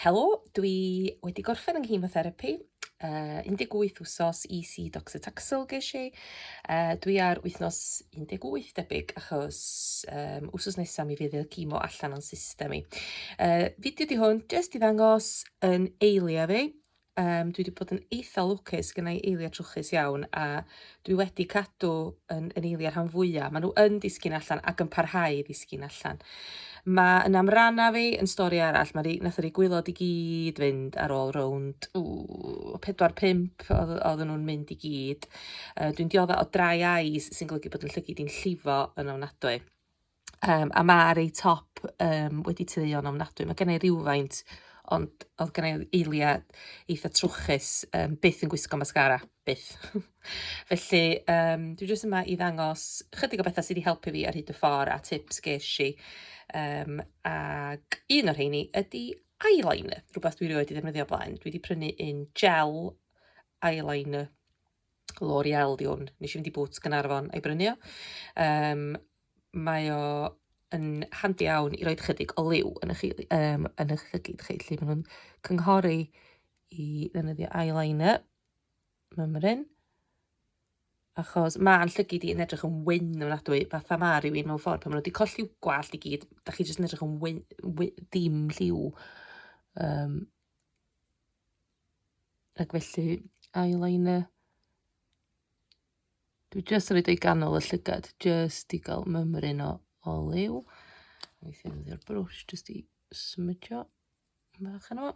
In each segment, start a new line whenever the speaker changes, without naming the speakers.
Helo, dwi wedi gorffen yng nghemotherapi, uh, 18 wsos EC doxytaxel ges i. Uh, dwi ar wythnos 18 debyg achos um, wsos nesaf mi fydd y cimo allan o'n system i. Uh, fideo di hwn, jyst i ddangos yn eiliad fi, Um, dwi wedi bod yn eitha lwcus gyda i eiliad trwchus iawn a dwi wedi cadw yn, yn eiliad rhan fwyaf. Maen nhw yn disgyn allan ac yn parhau i ddisgyn allan. Mae yn am ranna fi yn stori arall, mae nath yr gwylod i gyd fynd ar ôl rownd 4-5 oedden nhw'n mynd i gyd. Uh, dwi'n diodda o dry eyes sy'n golygu bod yn llygyd i'n llifo yn ofnadwy. Um, a mae ar ei top um, wedi tyluo'n ofnadwy. Mae gen i rhywfaint, ond oedd gen i eiliad eitha trwchus, um, byth yn gwisgo mascara, byth. Felly, um, dwi jyst yma i ddangos chydig o bethau sydd wedi helpu fi ar hyd y ffordd a tips ges i. Um, ac un o'r rheini ydy eyeliner, rhywbeth dwi wedi ddefnyddio blaen. Dwi wedi prynu un gel eyeliner L'Oreal di hwn. Nes i fynd i Boots Gynarfon a'i brynu o. Um, mae o yn handi iawn i roi chydig o liw yn eich, um, yn eich llygyd chi. Lle maen nhw'n cynghori i ddefnyddio eyeliner. Mae'n mryn. Achos mae'n llygyd i yn edrych yn wyn yn adwy, fatha ma rhywun mewn ffordd. Pan maen nhw wedi colli gwallt i gyd, da chi jyst yn edrych yn wyn, wyn, dim lliw. Um, Ac felly, eyeliner. Dwi jyst yn rhaid o'i ganol y llygad, jyst i gael mymryn o, o liw. Weithio yn ddi'r brwsh, jyst i smydio bach yno.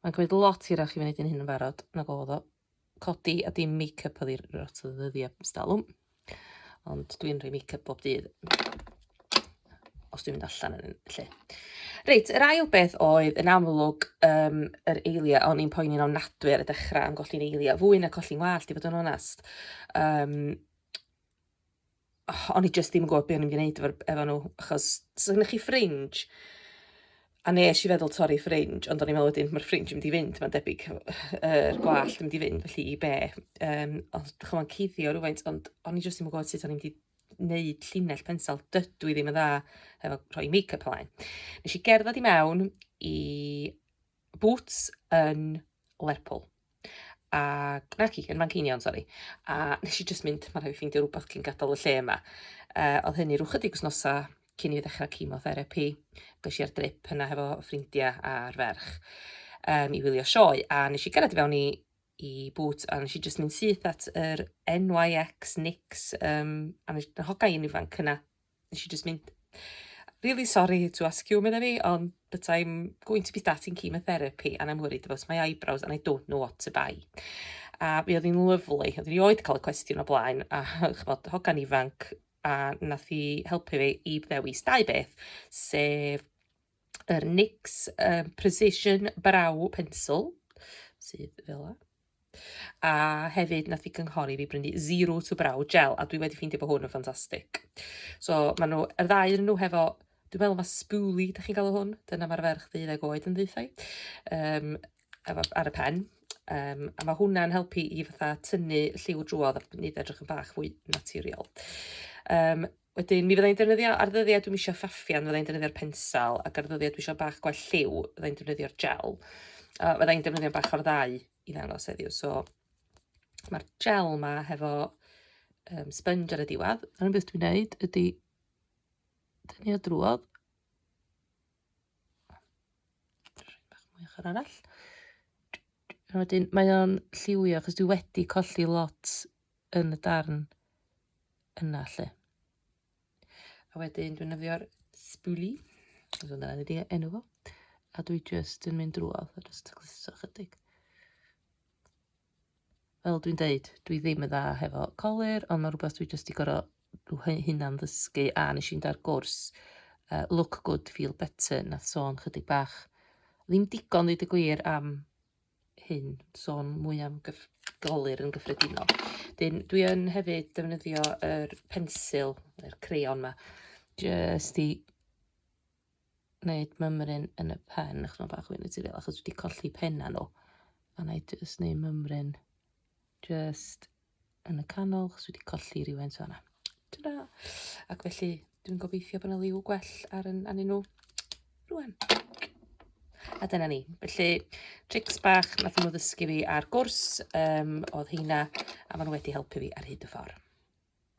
Mae'n gwneud lot hirach i fi wneud yn hyn yn barod nag oedd o. codi a dim make-up oedd i'r rot o ddyddiau stalwm. Ond dwi'n rhoi make-up bob dydd. Os dwi'n mynd allan yn lle. Reit, yr ail beth oedd yn amlwg um, yr eilia, o'n i'n poeni'n ofnadwy ar y dechrau am golli'n eilia, fwy na colli'n wallt i fod yn onest. Um, oh, o'n i jyst ddim yn gwybod beth o'n i'n gwneud efo, efo nhw, achos so gynnwch chi ffringe, a nes i feddwl torri ffringe, ond o'n i'n meddwl wedyn, mae'r ffringe yn mynd i fynd, mae'n debyg, yr gwallt yn mynd i fynd, felly i be? Um, ond ddech chi'n cuddio rhywfaint, ond o'n i jyst ddim yn gwybod sut o'n i'n mynd i wneud llinell pensel, dydw i ddim yn dda efo rhoi make-up ymlaen. Nes i gerdded i mewn i boots yn Lerpwl. A, na ci, yn Fanceinion, sori. A nes i just mynd, mae'n rhaid i ffeindio rhywbeth cyn gadael y lle yma. Uh, oedd hynny rhywch ydig wsnosa cyn i fi ddechrau chemotherapi. Ges i'r drip yna hefo ffrindiau a'r ferch um, i wylio sioe. A nes i gyrraedd i fewn i i bwt a nes i just mynd syth at yr NYX Nix um, a nes i hoga i'n ifanc yna Nes i just mynd, really sorry to ask you, medda fi, ond but I'm going to be starting chemotherapy and I'm worried about my eyebrows and I don't know what to buy. A mi oedd hi'n lyflu, oedd hi'n oed cael y cwestiwn o blaen, a chymod, hogan ifanc, a nath hi helpu fi i ddewis dau beth, sef yr NYX um, Precision Brow Pencil, sydd fel yna. A hefyd, nath i gynghori fi brynu Zero to Brow Gel, a dwi wedi ffeindio bod hwn yn ffantastig. So, maen nhw, yr ddau yn nhw hefo Dwi'n meddwl mae spoolie, da chi'n galw hwn, dyna mae'r ferch ddeuddeg oed yn ddeuthau, um, ar y pen. Um, a mae hwnna'n helpu i fatha tynnu lliw drwodd a nid edrych yn bach fwy naturiol. Um, Wedyn, mi fydda i'n defnyddio, ar ddyddiau dwi'm isio ffaffian, fydda i'n defnyddio'r pensel, ac ar ddyddiau dwi isio bach gwell lliw, fydda i'n defnyddio'r gel. Uh, fydda i'n defnyddio bach o'r ddau i ddangos heddiw. So, mae'r gel ma hefo um, sponge ar y diwedd. Yr un beth dwi'n neud ydy dynnu o drwodd. Bach mwy ochr arall. A wedyn mae o'n lliwio, achos dwi wedi colli lot yn y darn yna lle. A wedyn dwi'n yfio'r spoolie, dwi'n dweud yna wedi enw fo, a dwi just yn mynd drwodd a just cliso chydig. Fel dwi'n deud, dwi ddim yn dda hefo colir, ond mae rhywbeth dwi just i gorau hynna'n ddysgu, a nes i'n dar gwrs uh, Look Good, Feel Better, na sôn chydig bach. Ddim digon ddeud y gwir am hyn, sôn mwy am gyf golur yn gyffredinol. Dyn, dwi yn hefyd defnyddio yr pensil, yr crayon ma, jyst i wneud mymryn yn y pen, achos mae'n bach yn naturiol, achos wedi colli penna nhw. A na i jyst wneud mymryn Just yn y canol, chos wedi colli rhywun so yna. Ta-da! Ac felly, dwi'n gobeithio bod yna liw gwell ar yn anyn nhw. Rwan. A dyna ni. Felly, tricks bach nath nhw ddysgu fi ar gwrs um, oedd heina, a maen nhw wedi helpu fi ar hyd y ffordd.